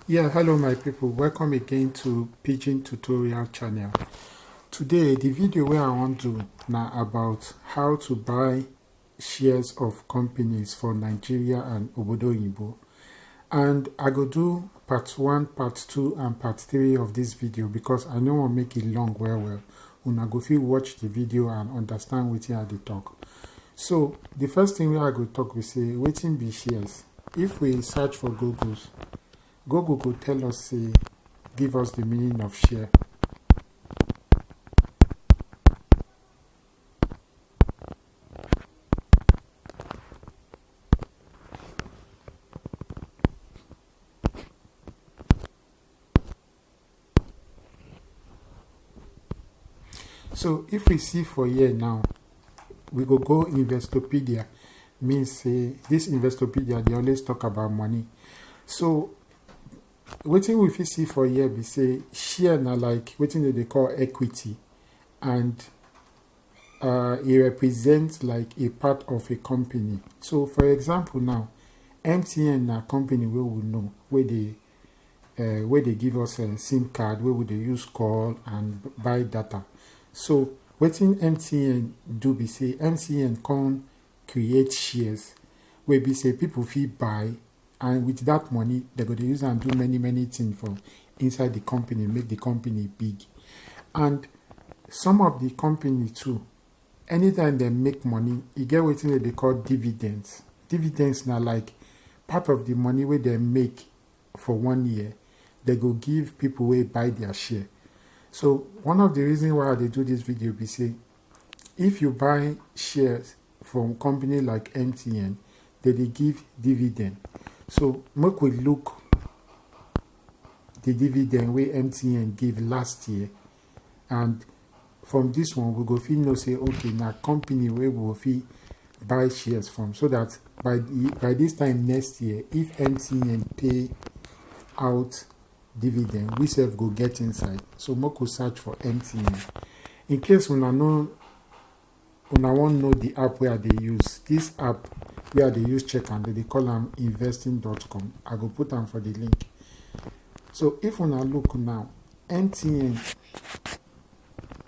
Yeah, hello my people, welcome again to Pidgin Tutorial channel. Today, the video where I want to now about how to buy shares of companies for Nigeria and Obodo Yibo. And I go do part 1, part 2 and part 3 of this video because I know I'll make it long well well. una go fit watch the video and understand wetin I dey talk. So the first thing wey I go talk be say wetin be shares? If we search for Google, Google go tell us say give us the meaning of share. so if we see for here now we go go investopedia mean say this investopedia they always talk about money so wetin we fit see for here be say share na like wetin dem dey call equity and uh, e represent like a part of a company so for example now mtn na company wey we know wey dey uh, where they give us a sim card where we dey use call and buy data so wetin mtn do be say mtn come create shares wey be say people fit buy and with that money they go dey use am do many many things for inside the company make the company big and some of the company too Anytime dem make money, e get wetin dem dey call dividends. Dividends na like part of the money wey dem make for one year, dem go give people wey buy their share. So one of the reason why I dey do this video be say if you buy shares from company like MTN, they dey give dividend. So make we look the dividend wey MTN give last year and from this one we go fit know say okay na company wey we go fit buy shares from so that by the, by this time next year if mtn pay out dividend we sef go get inside so make we search for mtn in case una no Una wan know the app wey I dey use? This app wey I dey use check am, dem dey call am investing.com. I go put am for the link. So if una look now, MTN,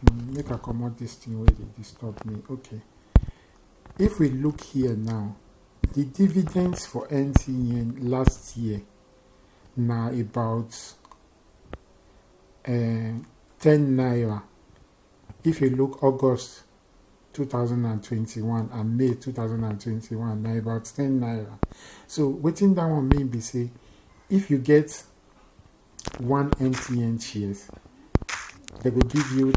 mm, make I comot this thing wey dey disturb me. Okay. If we look here now, the dividends for MTN last year na about uh, 10 naira If you look August 2021 and May 2021, na about 10 naira. So wetin that one mean be say if you get one MTN shares, they will give you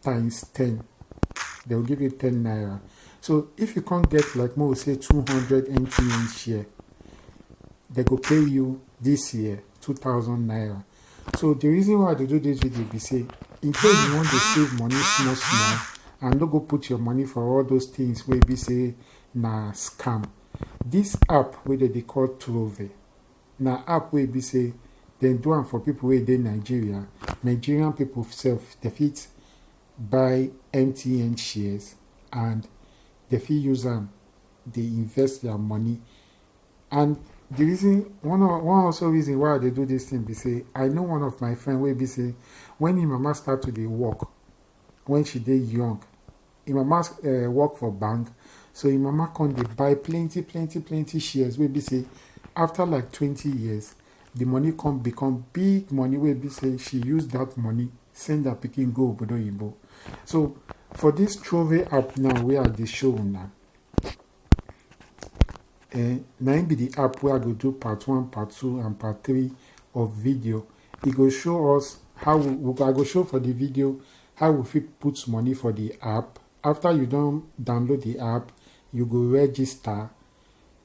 times 10. They will give you 10 naira. So if you can't get like more say 200 MTN share, they go pay you this year 2000 naira. So the reason why I dey do this video be say in case you wan dey save money small small and no go put your money for all those things wey be say na scam. This app wey dem dey call Trove na app wey be say dem do am for people wey dey Nigeria. Nigerian people sef dem fit buy MTN shares and dem fit use am dey invest their money and the reason one of one also reason why i dey do this thing be say i know one of my friend wey be say when im mama start to dey work when she dey young im mama uh, work for bank so im mama come dey buy plenty plenty plenty shares wey be say after like twenty years the money come become big money wey be say she use that money send her pikin go obodo oyibo so for this trove app now wey i dey show una um na im be the app wey I go do part one, part two and part three of video. E go show us how we, we I go show for the video how we fit put money for the app. After you don download the app, you go register.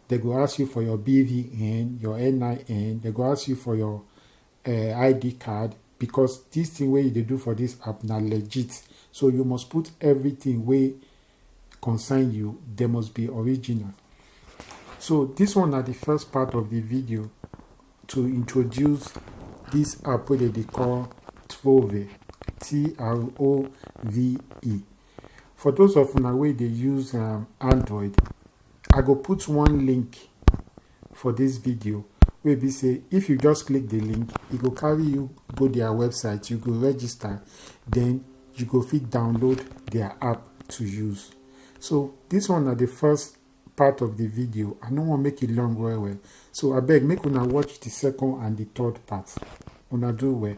They go ask you for your BVN, your NIN. They go ask you for your uh, id card because this thing wey you dey do for this app na legit so you must put everything wey concern you they must be original so this one na the first part of the video to introduce this app wey dem dey call Trove T-R-O-V-E for those of una wey dey use um, Android I go put one link for this video wey be say if you just click the link e go carry you go their website you go register then you go fit download their app to use so this one na the first part of the video i no wan make it long well well so abeg make una watch the second and the third part una do well